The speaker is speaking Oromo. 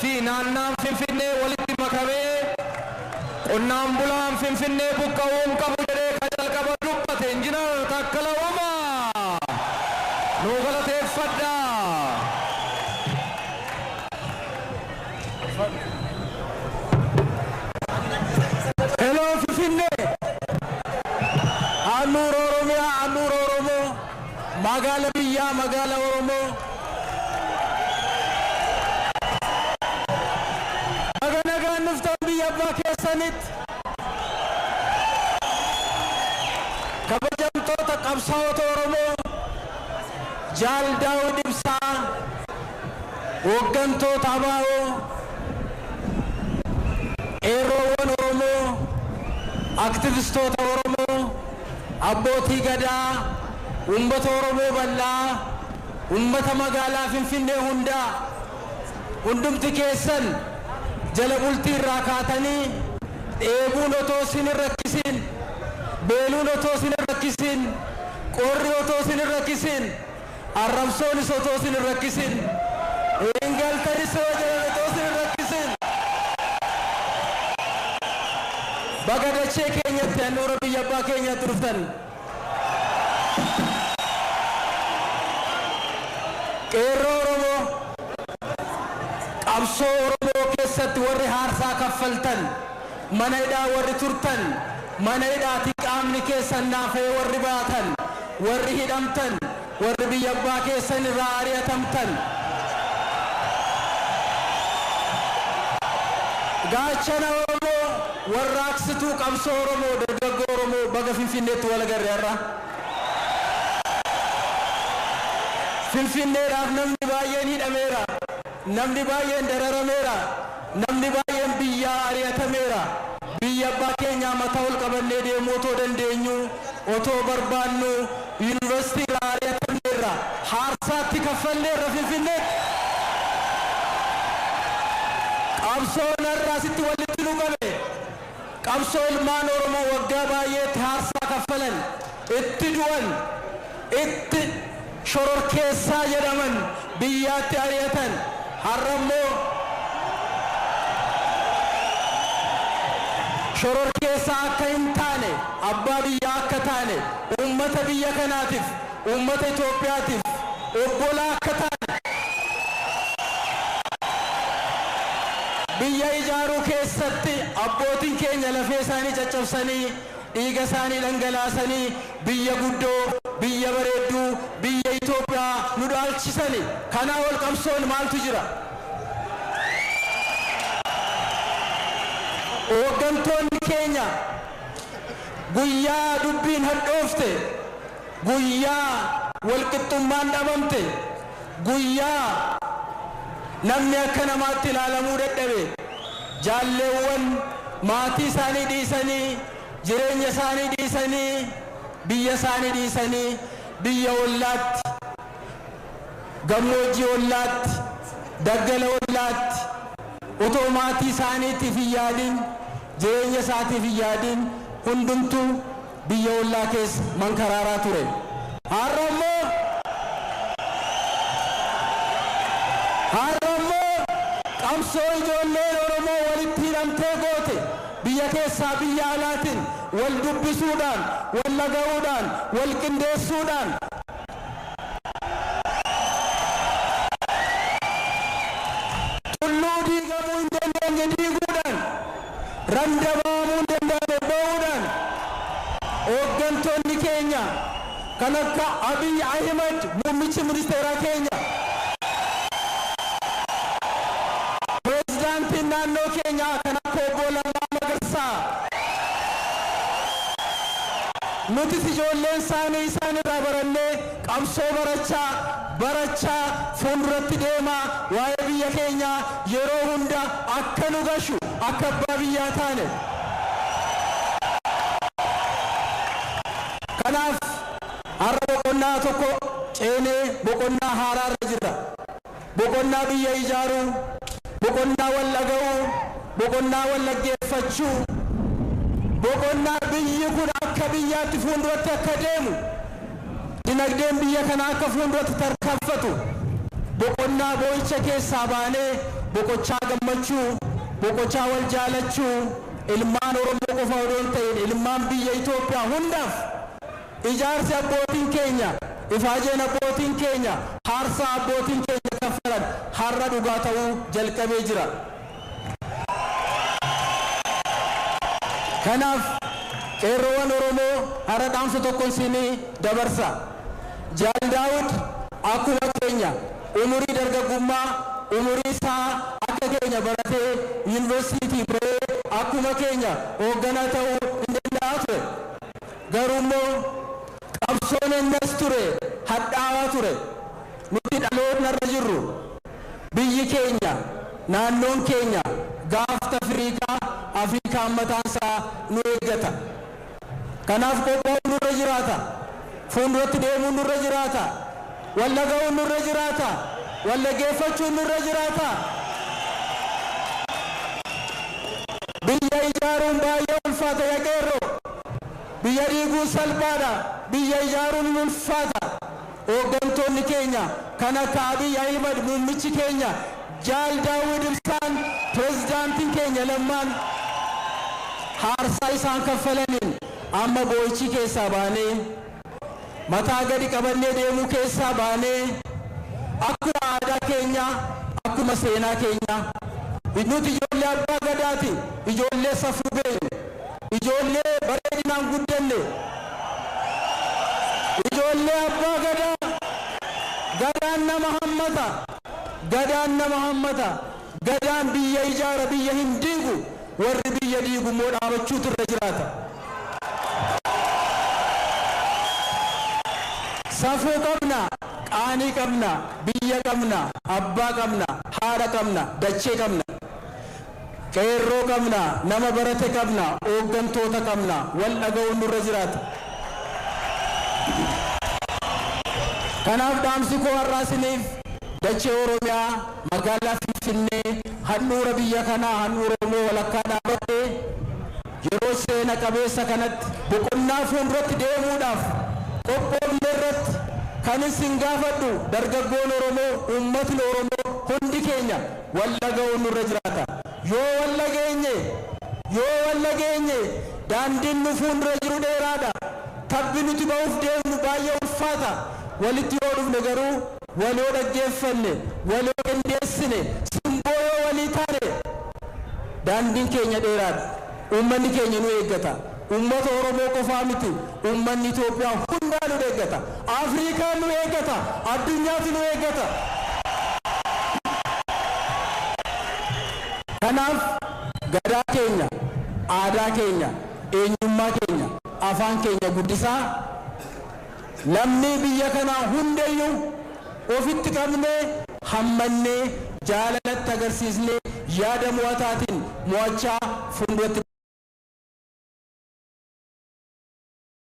fi naannaan Finfinnee walitti makamee qonnaan bulaan Finfinnee buqqa'uu hin qabu jedhee ka jalqaba dubbate Injinar Taakkala Uumaa. Nuu galateeffadhaa. Hello Finfinnee! Handhuura Oromiyaa, handhuura Oromoo! Magaala biyyaa magaala oromoo. Baga nagaan dhuftan biyya abbaa keessanitti. Kabajamtoota qabsaa'ota oromoo jaal daawud ibsaa hooggantoota abaa'oo qeerroowwan oromoo aktivistoota oromoo Abbootii Gadaa, Uummata Oromoo bal'aa, Uummata Magaalaa Finfinnee hundaa, hundumti keessan jala bultii irraa kaatanii dheebuun otoo isin hin rakkisiin, beeluun otoo isin hin rakkisiin, qorri otoo isin hin rakkisiin Arrabsoonis otoo isin hin rakkisin. Hin galtanis yoo jedhan otoo isin hin rakkisin. Baga dachee keenyatti handhuura biyya abbaa keenyaatti dhuftan. Qeerroo Oromoo, qabsoo Oromoo keessatti warri haarsaa kaffaltan, Mana hidhaa warri turtan, mana hidhaatii qaamni keessan naafa'ee warri baatan, warri hidhamtan, warri biyya abbaa keessan irraa ari'atamtan, Gaachana Oromoo, Warraaqsituu Qabsoo Oromoo, Dargaggoo Oromoo baga Finfinneetti wal agarre har'a. Finfinneedhaaf namni baay'een hidhameera. Namni baay'een dararameera. Namni baay'een biyyaa ari'atameera. Biyya abbaa keenyaa mataa ol qabannee deemuu otoo dandeenyuu, otoo barbaannuu Yuunivarsiitii irraa ari'atamneerra. Haarsaa itti kaffalleerra Finfinneetti. Qabsoon har'a asitti wallitti nu qabe. Qabsoo ilmaan Oromoo waggaa baay'eetti haarsaa kaffalan, itti du'an, itti shororkeessaa jedhaman biyyaatti ari'atan har'a immoo shororkeessaa akka hin taane, abbaa biyyaa akka taane uummata biyya kanaatiif, Uummata Itoophiyaatiif obbolaa akka taane, biyya ijaaruu keessatti abbootiin keenya lafee isaanii caccabsanii, dhiiga isaanii dhangalaasanii biyya guddoo, biyya bareedduu, biyya Itoophiyaa nu dhaalchisani. Kanaa ol qabsoon maaltu jira? Hooggantoonni keenya guyyaa dubbiin hadhoofte, Guyyaa walqixxummaan dhabamte, guyyaa namni akka namaatti ilaalamuu dadhabe, jaalleewwan maatii isaanii dhiisanii, jireenya isaanii dhiisanii, biyya isaanii dhiisanii biyya ollaatti, gammoojjii ollaatti, daggala ollaatti otoo maatii isaaniitiif hin yaadin, jireenya isaatiif hin yaadin hundumtuu, biyya ollaa keessa mankaraaraa ture. Har'a immoo Har'a immoo qabsoo ijoolleen Oromoo walitti hidhamtee goote biyya keessaa biyya alaatin wal dubbisuudhaan, wal dhaga'uudhaan, wal qindeessuudhaan, tulluu diigamuu hin dandeenye diiguudhaan, randaba'amuun danda'ame ba'uudhaan hooggantoonni keenya kan akka Abiy Ahimad muummichi ministeeraa keenya, preezdaantiin naannoo keenyaa kan akka Obbo Lammaa Magarsaa nutis ijoolleen isaanii isaan irraa barannee, Qabsoo barachaa, barachaa fuulduratti deemaa waa'ee biyya keenyaa yeroo hunda akka nu gashu, akka abbaa biyyaa taane. Kanaaf har'a boqonnaa tokko ceenee boqonnaa haaraarra jirra. boqonnaa biyya ijaaruu, boqonnaa wal dhaga'uu, boqonnaa wal dhaggeeffachuu, boqonnaa biyyi kun akka biyyaatti fuulduratti akka deemu, dinagdeen biyya kanaa akka fuulduratti tarkanfatu, boqonnaa boo'icha keessaa baanee boqochaa gammachuu, boqochaa wal jaalachuu ilmaan Oromoo qofa odoo hin ta'iin ilmaan biyya Itoophiyaa hundaaf Ijaarsi abbootiin keenya, ifaajeen abbootiin keenya, haarsaa abbootiin keenya kaffalan har'a dhugaa ta'uu jalqabee jira. Kanaaf Qeerrowan Oromoo har'a dhaamsa tokkon siin dabarsa. Jaal Daawud akkuma keenya umurii dargaggummaa umurii isaa akka keenya baratee Yuuniversiitii ba'ee akkuma keenya hoogganaa ta'uu hin danda'aa ture. Garuummoo qabsoon ennas ture hadhaawaa ture. Nuti dhalootnarra jirru biyyi keenya, naannoon keenya gaafta firiikaa, Afrikaan mataansaa nu eeggata. Kanaaf qophaa'uun nurra jiraata. Fuulduratti deemuun nurra jiraata. Wal dhaga'uun nurra jiraata. Wal dhaggeeffachuun nurra jiraata. Biyya ijaaruun baay'ee ulfaata ya qeerroo. Biyya diiguun salphaadha, biyya ijaaruun hin ulfaata. Hooggantoonni keenya kan akka Abiy Ahimad muummichi keenya, Jaal Daawwid Ibsaan, Pirezidaantiin keenya Lammaan haarsaa isaan kaffalaniin amma boo'ichi keessaa baanee, mataa gadi qabannee deemuu keessaa baanee akkuma aadaa keenyaa, akkuma seenaa keenyaa nuti ijoollee Abbaa Gadaati, ijoollee safuu beeknu, ijoollee bareedinaan guddanne, ijoollee Abbaa Gadaa, Gadaan nama hammata, Gadaan nama hammata. Gadaan biyya ijaara biyya hin diigu warri biyya diigu immoo dhaabachuutu irra jiraata. Safuu qabna, qaanii qabna, biyya qabna, abbaa qabna, haadha qabna, dachee qabna. Qeerroo qabna, nama barate qabna, ooggantoota qabna, wal dhaga'uun nurra jiraata. Kanaaf dhaamsi koo har'aa isiniif dachee Oromiyaa, Magaalaa Finfinnee handhuura biyya kanaa handhuura Oromoo walakkaa dhaabatte yeroo seena qabeessa kanatti boqonnaa fuulduratti deemuudhaaf qophoofne irratti kan isin gaafadhu dargaggoon Oromoo, uummatni Oromoo hundi keenya wal dhaga'uun nurra jiraata. Yoo wal dhageenye, yoo wal dhageenye daandiin nu fuuldura jiru dheeraadha. Tabbi nuti ba'uuf deemnu baay'ee ulfaata. Walitti yoo dhufne garuu Waloo dhaggeeffanne, waloo qindeessine, simboo yoo walii taane daandiin keenya dheeraadha. Uummanni keenya nu eeggata. Uummata Oromoo qofaa miti, uummanni Itoophiyaa hundaa nu eeggata. Afriikaan nu eeggata. Addunyaatu nu eeggata. Kanaaf Gadaa keenya, aadaa keenya, eenyummaa keenya, afaan keenya guddisaa. Lammii biyya kanaa hundayyuu ofitti qabnee, hammannee, jaalalatti agarsiisnee, yaada mo'ataatiin mo'achaa funduratti.